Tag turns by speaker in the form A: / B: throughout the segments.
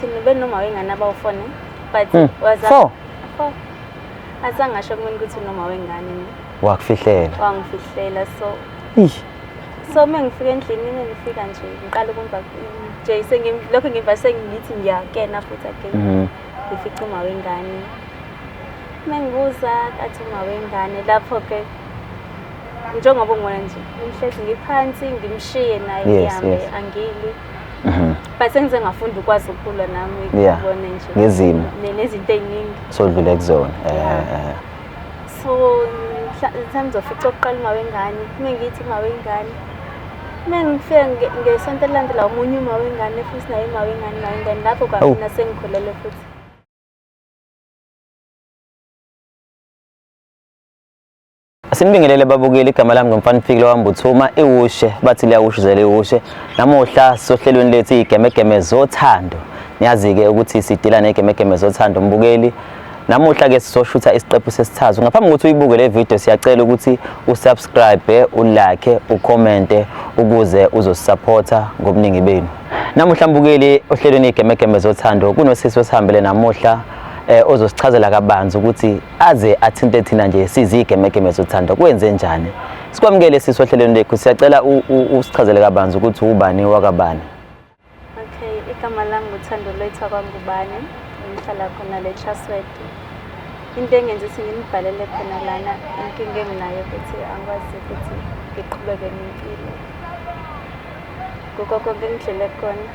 A: Thina ube noma wengane abawufone but Hmm. waza Four.
B: Four. Azange asho
A: kumina ukuthi unoma wengane mina. Wakufihlela.
B: wangifihlela
A: so Eish. so uma ngifika endlini mina ngifika nje ngiqala ukumva nje sengim- lokho ngimva sengithi ngiyakena futhi again Mhm. ngifica uma wengane uma ngibuza kathi uma wengane lapho-ke njengoba ungona nje ngihlezi ngiphansi ngimshiye naye Yes, ngihambe yes. angili Mhm. but sengize ngafunda ukwazi ukukhula nami Yeah. ngibone nje Ngezimo. ne- nezinto
B: ey'ningi
A: sodlule kuzona
B: eh, Yeah. eh, eh. so
A: mhla- mhlawumbe ngizofica okokuqala uma wengane uma ngithi uma wengane uma ngifike nge- ngesonto elilandela omunye uma wengane futhi naye uma wengane uma wengane lapho kwamina sengikhulele futhi
B: Asinibingelele babukeli igama lami ngomfana Fikile wambuthuma iwushe bathi liyawushizela iwushe namuhla sohlelweni lethu igemegeme zothando niyazi ke ukuthi sidila negemegeme zothando mbukeli namuhla ke sizoshutha isiqephu sesithathu ngaphambi kokuthi uyibuke le video siyacela ukuthi usubscribe ulike ucommente ukuze uzosupporta ngobuningi benu namuhla mbukeli ohlelweni igemegeme zothando kunosisi osihambele namuhla eh ozosichazela kabanzi ukuthi aze athinte thina nje sizigemegeme zothando kwenze njani sikwamukele sisi ohlelweni lethu siyacela usichazele kabanzi ukuthi ubani wakabani okay
A: igama lami nguthando lwethu akwangubani ngihlala khona le trustword into engenza ukuthi nginibhalele khona lana inkinga enginayo ukuthi angikwazi ukuthi ngiqhubeke nempilo kukho konke engidlele khona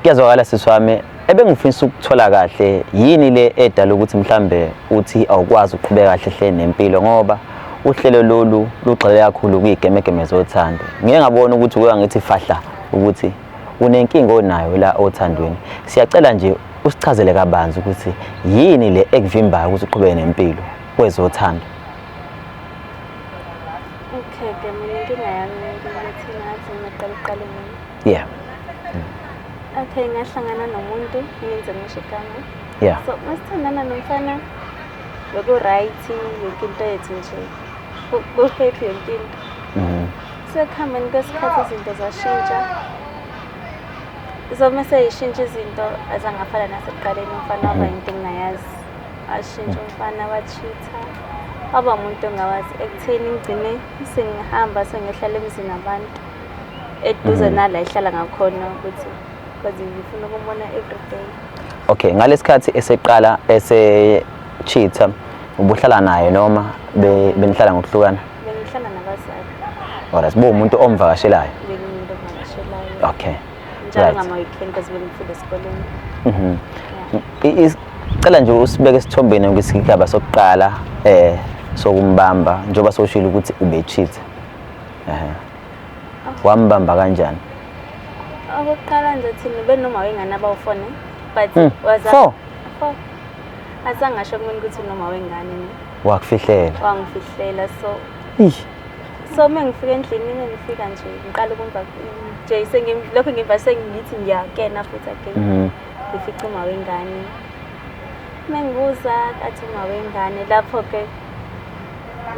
B: kuyazwakala sisi wami ebengifisa ukuthola kahle yini le edala ukuthi mhlambe uthi awukwazi ukuqhubeka kahle hle nempilo ngoba uhlelo lolu lugxile kakhulu kwigemegeme zothando ngeke ngabona ukuthi kuya ngithi fahla ukuthi unenkinga onayo la othandweni siyacela nje usichazele kabanzi ukuthi yini le ekuvimbayo ukuthi uqhubeke nempilo kwezothando okay
A: ke mina inkinga yami ukuthi ngathi ngiqala uqale yeah okay ngahlangana nomuntu ngenze ngisho igama yeah so masithandana nomfana beku-right yonke into yethu nje ku-happy yonke into mhm. sekuhambeni kwesikhathi izinto zashintsha so mese yishintsha izinto azangafana nasekuqaleni umfana waba mhm. yinto engingayazi ashintsha mhm. umfana wachitha waba umuntu ongawazi ekutheni ngigcine sengihamba sengiyohlala emzini abantu eduze mm. nala ihlala ngakhona ukuthi because ngifuna ukumona everyday okay
B: ngalesikhathi eseqala ese cheater ubuhlala naye noma benihlala ngokuhlukana bengihlala
A: nabazali alright bo
B: umuntu omvakashelayo bengimuntu
A: omvakashelayo okay
B: njalo ngama
A: weekend because bengifunda esikoleni mhm cela nje usibeke
B: esithombeni ngesigaba sokuqala eh sokumbamba njengoba soshilo ukuthi ubecheater Ehe. Wambamba kanjani?
A: Okokuqala nje thina benoma wengane abawufone but Hmm. waza Four. Four. Asangasho kumina ukuthi unoma wengane mina. Wakufihlela.
B: wangifihlela
A: so Eish. so uma ngifika endlini mina ngifika nje ngiqala ukumva nje sengi- lokho ngimva sengithi ngiyakena futhi again Mhm. ngifica uma wengane uma ngibuza athi uma wengane lapho-ke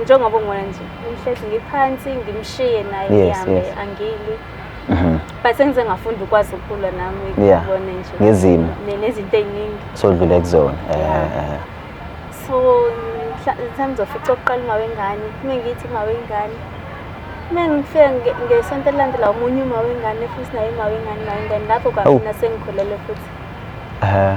A: njengoba ungona nje ngihlezi ngiphansi ngimshiye naye Yes, ngihambe yes. angili Mhm. but sengize ngafunda ukwazi ukukhula nami Yeah. ngibone nje Ngezimo. ne- nezinto
B: ey'ningi
A: sodlule kuzona
B: eh, Yeah. eh, eh. so
A: mhla- mhlawumbe ngizofica okokuqala uma wengane uma ngithi uma wengane uma ngifike nge- ngesonto elilandela omunye uma wengane futhi naye uma wengane uma wengane lapho kwagcina sengikhulele futhi Eh,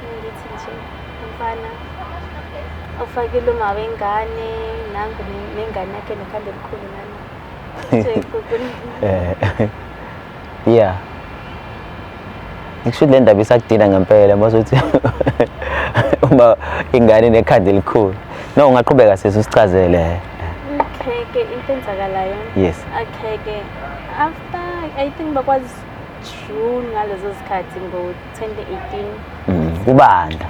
A: Ngithi nje umfana ufakile uma wengane nangu nengane yakhe nokhanda elikhulu nami. Eh. Yeah.
B: Ngisho le ndaba isakudina ngempela mazothi uma ingane nekhanda elikhulu. No ungaqhubeka sisi usichazele. Akheke
A: into enzakalayo. Yes. Akheke after I think bakwazi June ngalezo zikhathi ngo 2018 mm, kubanda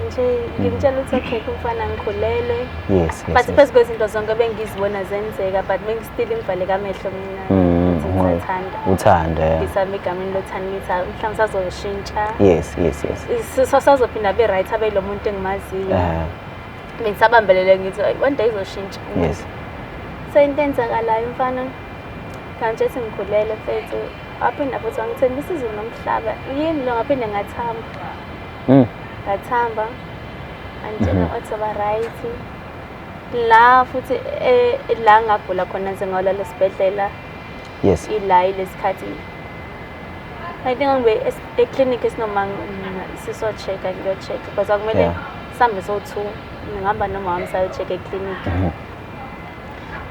A: nje ngimtshela ukuthi okay kumfana ngikhulelwe yes, yes but
B: phezu kwezinto
A: zonke bengizibona zenzeka but bengistile imvale kamehlo mina mm, ngithanda uthanda ngisami
B: egameni lothanda
A: ngithi ah, mhlawumbe sazoshintsha
B: yes yes yes sasazophinda
A: be right abe lo muntu engimaziyo eh. bengisabambelele ngithi one day izoshintsha yes
B: so into
A: enzakalayo mfana kanti ethi ngikhulele mfethu waphinda futhi wangithemba isizulu nomhlaba yini lo ngaphinde ngathamba mm. ngathamba angitshela mm-hmm. wathi ba right la futhi eh, la ngagula khona nze ngawulala esibhedlela yes
B: ila ilesikhathi
A: I think ngibe eclinic esinoma siso check ngiyo check because akumele sambe so two ngihamba nomama sayo check eclinic mm-hmm.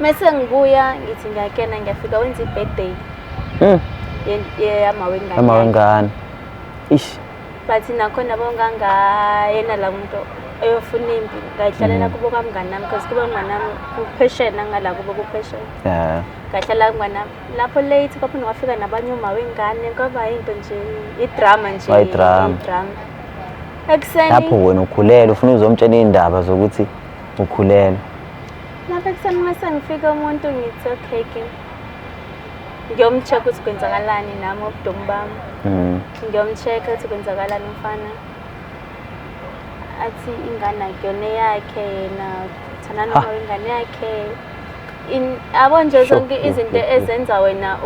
A: mese ngibuya ngithi ngiyakena ngiyafika wenza i-birthday mm. yamawengane
B: ish but nakhona
A: bongangayena la muntu eyofuna impi ngayihlalela mm. kubo kamngani nami because kubo mngani nami kupheshena ngala kubo kupheshena yeah ngahlala ngwana lapho late kwaphinde kwafika nabanye uma wengane kwaba yinto nje idrama nje idrama ekuseni lapho wena
B: ukhulele ufuna uzomtshela indaba zokuthi ukhulelwe lapha
A: ekuseni uma sengifike umuntu ngithi okay ke ngiyomcheck ukuthi kwenzakalani nami obudomu bami mm. ngiyomcheck ukuthi kwenzakalani umfana athi ingane akuyona yakhe yena thana noma ingane yakhe abo nje zonke izinto ezenza wena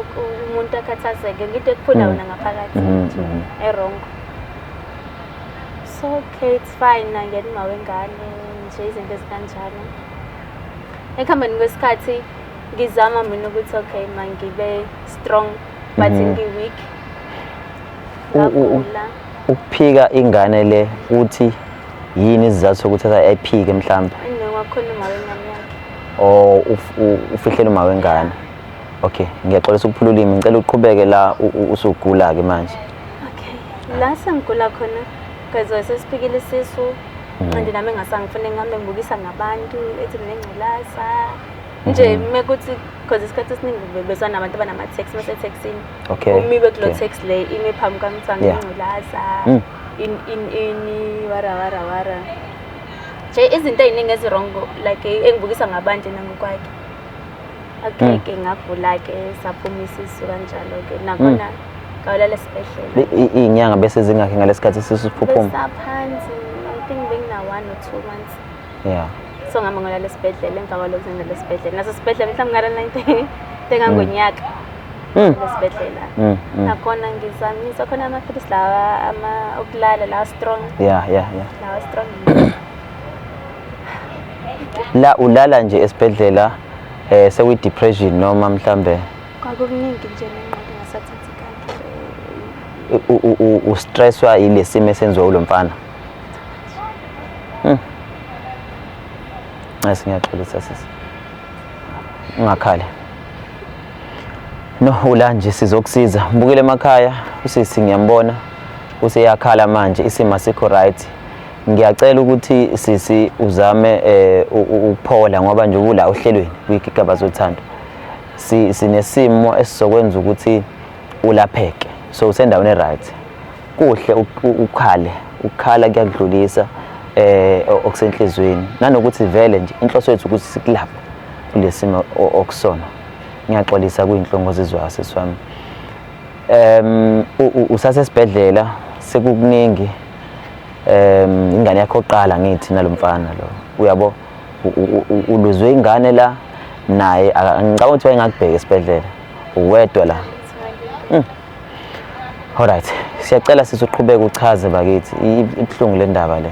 A: umuntu akhathazeke ngito ekuphula mm. wena ngaphakathi mm, mm. erongo so Okay, it's fine nangena uma wengane nje izinto ezikanjalo. Ekuhambeni kwesikhathi ngizama mina ukuthi okay mangibe strong but mm -hmm. ngi-weak. Ngagula.
B: Ukuphika ingane le uthi yini isizathu sokuthi ayiphike mhlawumbe? Ngiwakhona uma
A: wengane yakhe. Oh ufihlela uma
B: wengane. Okay, ngiyaxolisa ukuphula ulimi. Ngicela uqhubeke la usugula ke manje. okay la
A: sengigula khona because sesiphikile isisu mm. nqindi nami engasangifune ngihambe ngibukisa ngabantu ethi nengculaza nje mm-hmm. uma kuthi because isikhathi esiningi bezwa nabantu abanama-tax uma seteksini umibe kulo
B: tax le
A: imi phambi kwamthanga ingculaza mm. ini wara wara wara nje izinto ey'ningi ezirongo like engibukisa ngabantu nangokwakhe okay ke ngagula ke saphuma isisu kanjalo ke nakhona mm. ngawulala esibhedlela iy'nyanga bese zingakhi
B: ngalesikhathi isisu siphuphuma besaphansi
A: i think bengina one or two months yeah
B: so ngihamba ngolala
A: esibhedlela emva kwalokhu sengilala esibhedlela naso sibhedlela mhlawumbe ngala ninte tengangonyaka mm. mm. esibhedlela nakhona ngizamisa khona amaphilisi lawa okulala lawa strong yeah yeah yeah lawa
B: strong la ulala nje esibhedlela eh sewi depression noma mhlambe kwakukuningi
A: nje nenqondo ngasathatha ikakhe u stresswa
B: ilesimo esenziwa ulomfana mhm Nasi ngiyaxolisa sisi. Ungakhali. No ula nje sizokusiza. Mbukile emakhaya usisi ngiyambona useyakhala manje isima sikho right. ngiyacela ukuthi sisi uzame eh, ukuphola ngoba nje ubula ohlelweni kwigigaba zothando sinesimo esizokwenza ukuthi ulapheke so usendaweni right kuhle ukhale ukukhala kuyakudlulisa eh okusenhlizweni nanokuthi vele nje inhloso yethu ukuthi sikulaphe kulesimo okusona ngiyaxolisa kuyinhlongo zizwa seswami em usasesibhedlela sekukuningi um ingane yakho oqala ngithi nalomfana lo uyabo uluzwe ingane la naye ngicabanga ukuthi wayengakubheka esibhedlela uwedwa la hmm. alright siyacela sisi uqhubeke uchaze bakithi ibuhlungu le ndaba le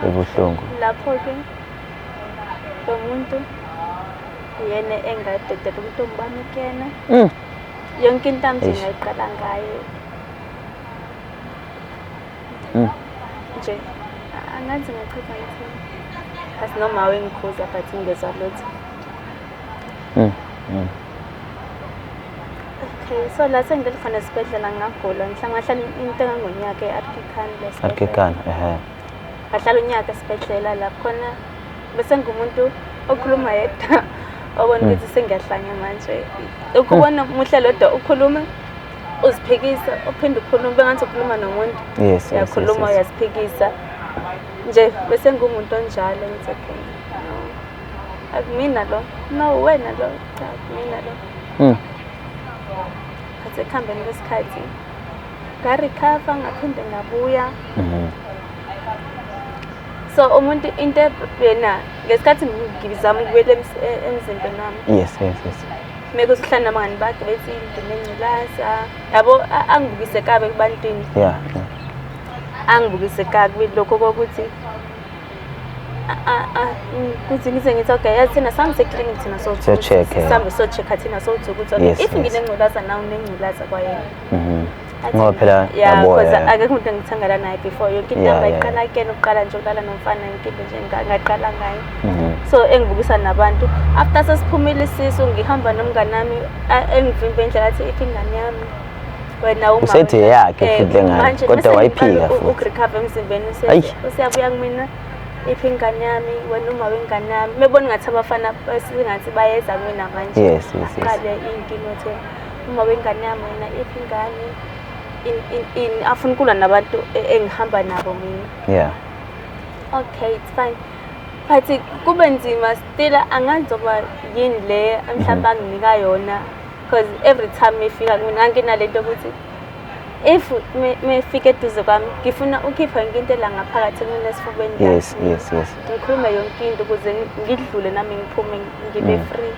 B: ibuhlungu lapho ke
A: lo muntu yena engadedela ukuthi umbani kuyena hmm. yonke into amthi ngayiqala ngaye Mm. Nje angazi ngachitha ithini. As noma wengikhuza but ngizwa lutho. Mm. Mm. Okay, so la sengikhona esibhedlela ngagula. Ngihlangahlala into engonyaka e-Arkikan lesibhedlela. Arkikan, ehhe.
B: ngahlala
A: unyaka esibhedlela lapho khona bese ngumuntu okhuluma yedwa obona hmm. ukuthi sengiyahlanya manje ukubona hmm. muhle lodwa ukhuluma uziphikisa uphinde ukhuluma bengathi ukhuluma nomuntu uyakhuluma uyaziphikisa nje bese ngumuntu onjalo ngithi okay akumina lo no wena lo akumina lo hmm. khathi ekuhambeni kwesikhathi ngarecover ngaphinde ngabuya mhm. so umuntu into yena ngesikhathi ngizama ukubuyela e-, emzimbeni wami yes yes yes
B: meke
A: usihlala nabangani bakhe bethi ngidine ngculaza yabo angibukise kabi kubantwini yeah angibukise kabi lokho kokuthi kuthi ngize ngithi okay yazi thina sihambe seclinic thina so so check sihambe so
B: check thina
A: so uthi ukuthi okay if nginengculaza nawe unengculaza kwayena mhm ngoba
B: phela yaboya because akekho
A: umuntu engithangala naye before yonke into yami ayiqala kuyena uqala nje uqala nomfana yonke into nje ngaqala ngayo mhm. so engibukisa nabantu after sesiphumile isisu ngihamba nomngane wami engivimbe indlela athi iphi ingane yami wena uma Usethi wena- eyakhe eh, futhi le
B: ngane, manje kodwa mese wayiphika ngiqala u- futhi. ukurecover emzimbeni
A: usethi Ayi. useyabuya kumina iphi ingane yami wena uma wengane yami mebona ngathi abafana singathi bayeza kumina manje Yes, yes, yes. aqale
B: inkinga
A: othe uma wengane yami wena iphi ingane In- in- in- afuna ukulwa nabantu e- engihamba nabo mina yeah okay it's fine but kube nzima still angazi zokuba yini le mhlawumbe anginika yona because every time ngifika mina nginalento ukuthi if mefika eduze kwami ngifuna ukhipha yonke into la ngaphakathi kumina esifubeni yes yes yes
B: ngikhulume
A: yonke into ukuze ngidlule nami ngiphume ngibe mm. free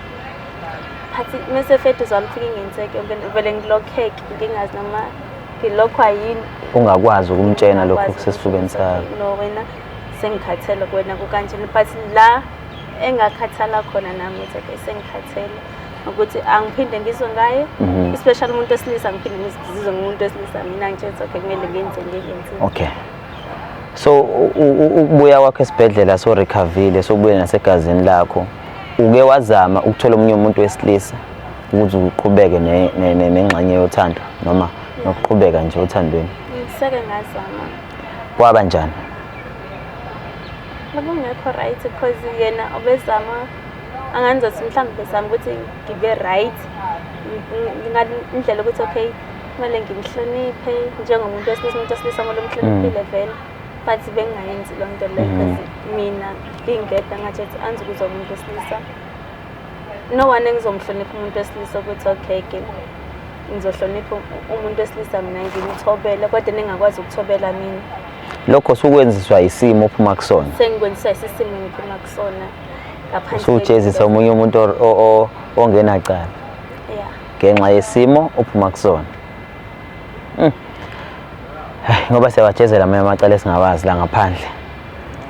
A: phathi mese fethu zamfika ingenzeke yonke vele ngilokheke ngingazi noma ngilokho ayini ungakwazi ukumtshena
B: lokho kusesifubeni sakho no wena
A: sengikhathele kuwena kukanjena but la engakhathala khona nami ukuthi sengikhathele ukuthi angiphinde ngizwe ngaye mhm. especially umuntu wesilisa ngiphinde ngizizwe ngumuntu wesilisa mina ngitshela okay kumele ngenze ngiyenze okay
B: so ukubuya kwakho esibhedlela so recoverile sokubuye nasegazini lakho uke wazama ukuthola omunye umuntu wesilisa ukuze uqhubeke nengxenye yothando noma nokuqhubeka nje othandweni ngiseke
A: ngazama kwaba
B: njani
A: bekungekho right because yena obezama anganza ukuthi mhlawumbe besami ukuthi ngibe right indlela ukuthi okay kumele ngimhloniphe njengomuntu wesilisa umuntu wesilisa kumele umhloniphile mm. vele but bengingayenzi loo nto leyo mm. mina ngingedwa ngathi ethi anzi ukuza umuntu wesilisa no one engizomhlonipha umuntu wesilisa ukuthi okay ke ngizohlonipha umuntu wesilisa mina ngimthobele kodwa ningakwazi ukuthobela mina lokho
B: sukwenziswa isimo ophuma kusona sengikwenziswa isisimo
A: engiphuma kusona Ngaphandle usujezisa kwento- omunye umuntu
B: or- o- o- ongenacala Yeah. ngenxa yesimo ophuma kusona Mm. Ai, ngoba siyawajezela amanye amacala esingawazi la ngaphandle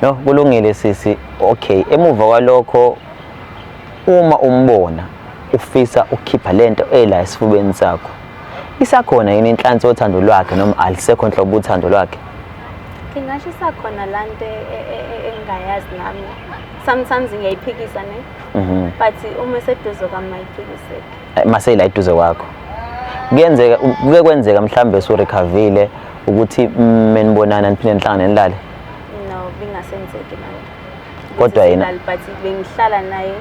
B: no kulungile sisi okay emuva kwalokho uma umbona ufisa ukukhipha lento ela esifubeni sakho Isakhona yini inhlansi yothando lwakhe noma alisekho nhlobo uthando lwakhe? Ngingasho
A: isakhona la nto e, e, e, engingayazi nami. Sometimes ngiyayiphikisa ne. Mhm. But uma eseduze kwami mayiphikiseki. Eh, Maseyila eduze
B: kwakho. Kuyenzeka kuke kwenzeka mhlambe usurecoverile ukuthi mm, menibonana niphinde nihlangane nilale. No,
A: bingasenzeki manje. Kodwa yena-
B: But bengihlala
A: naye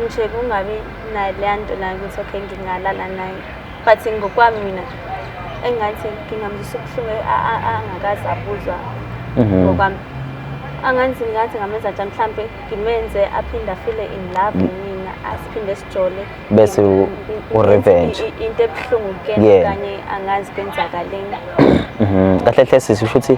A: nje kungabi nayo leya nto nayo ukuthi okay ngingalala naye but ngokwami mina engathi ngingamzisa ubuhlungu angakazi abuzwa mhm. ngokwami anganzi ngathi ngamenza njani mhlampe ngimenze aphinde afile in love mm. mina asiphinde sijole bese
B: u-revenge into ebuhlungu
A: kuyena kanye angazi kwenzakaleni mhm.
B: kahle hle sisi usho ukuthi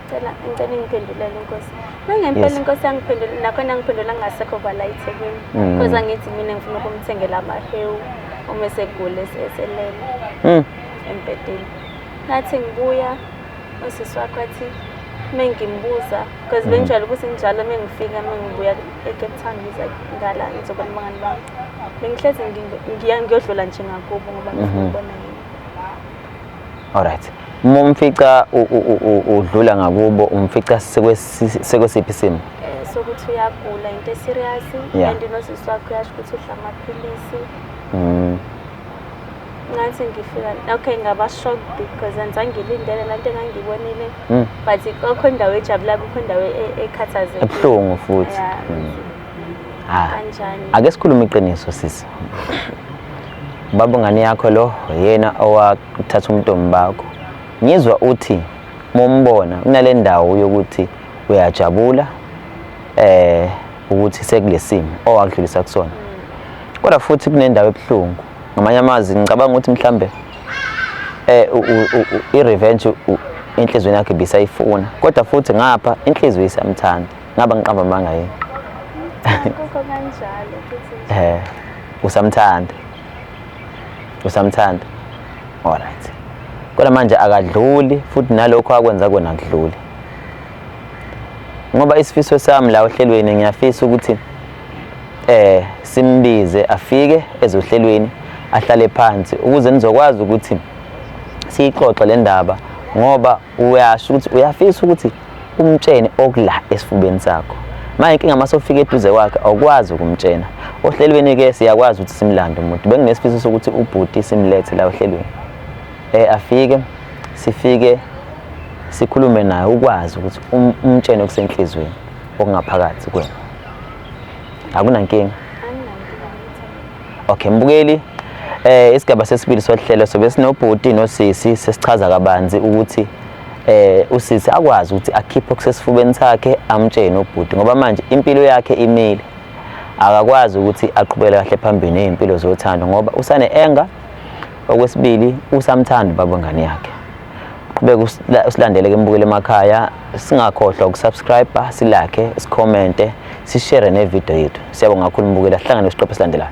A: Cela ngicela ingiphendulele inkosi. Nangempela Yes. inkosi yangiphendula nakhona ngiphendula ngasekho kwala eThekwini. Mm. Because angithi mina ngifuna ukumthengela amahewu uma esegule eselele Mm. embhedeni. Ngathi ngibuya usisi wakho athi mengimbuza because Mm. benjalo ukuthi njalo mengifika mengibuya eCape Town ngiza ngala ngizobona abangani bami. Bengihlezi ngi- ngiya ngiyodlula nje ngakubo ngoba ngifuna Mhm. ukubona yini.
B: Alright. Uma umfica udlula ngakubo umfica sekwesiphi isimo? Eh,
A: sokuthi uyagula into eserious and nosisi
B: wakho uyasho
A: ukuthi udla amaphilisi. Mm. ngathi ngifika okay ngaba shocked because angizange ngilindele lento engangiyibonile hmm. but kokho indawo ejabula kukho indawo e-, ekhathazekile ebuhlungu futhi
B: hmm. Ah. Kanjani?
A: Ake sikhulume iqiniso
B: sisi. Baba ngane yakho lo yena owathatha umntombi bakho. Ngizwa uthi mombona kunale ndawo yokuthi uyajabula eh ukuthi sekulesimo owakudlulisa kusona. Kodwa futhi kunendawo ebuhlungu. Ngamanye amazwi ngicabanga ukuthi mhlambe eh u- u- u- i-revenge u- inhlizweni yakhe bisayifuna. Kodwa futhi ngapha inhliziyo isamthanda. ngaba ngiqamba amanga yini kukho kanjalo
A: futhi
B: eh usamthanda usamthanda alright kodwa manje akadluli futhi nalokho akwenza kona kudluli ngoba isifiso sami la ohlelweni ngiyafisa ukuthi eh simbize afike ezohlelweni ahlale phansi ukuze nizokwazi ukuthi siyixoxe le ndaba ngoba uyasho ukuthi uyafisa ukuthi umtshene okula esifubeni sakho manje inkinga uma sofika eduze kwakhe awukwazi ukumtshena ohlelweni-ke siyakwazi ukuthi simlande umuntu benginesifiso sokuthi ubhuti simlethe la ohlelweni um afike sifike sikhulume naye ukwazi ukuthi um-, umtshene okusenhliziyweni okungaphakathi kwena akunankinga Okay mbukeli eh isigaba sesibili sohlelo sobe sinobhuti nosisi sesichaza kabanzi ukuthi eh usisi akwazi ukuthi akhiphe okusesifubeni sakhe amtshene ubhuti ngoba manje impilo yakhe imile akakwazi ukuthi aqhubele kahle phambili nezimpilo zothando ngoba usane enga okwesibili usamthanda baba ngane yakhe qhubeka usilandele ke mbukele emakhaya singakhohlwa ukusubscribe silakhe sicommente sishare ne video yethu siyabonga kakhulu mbukela sihlangane isiqophe silandelayo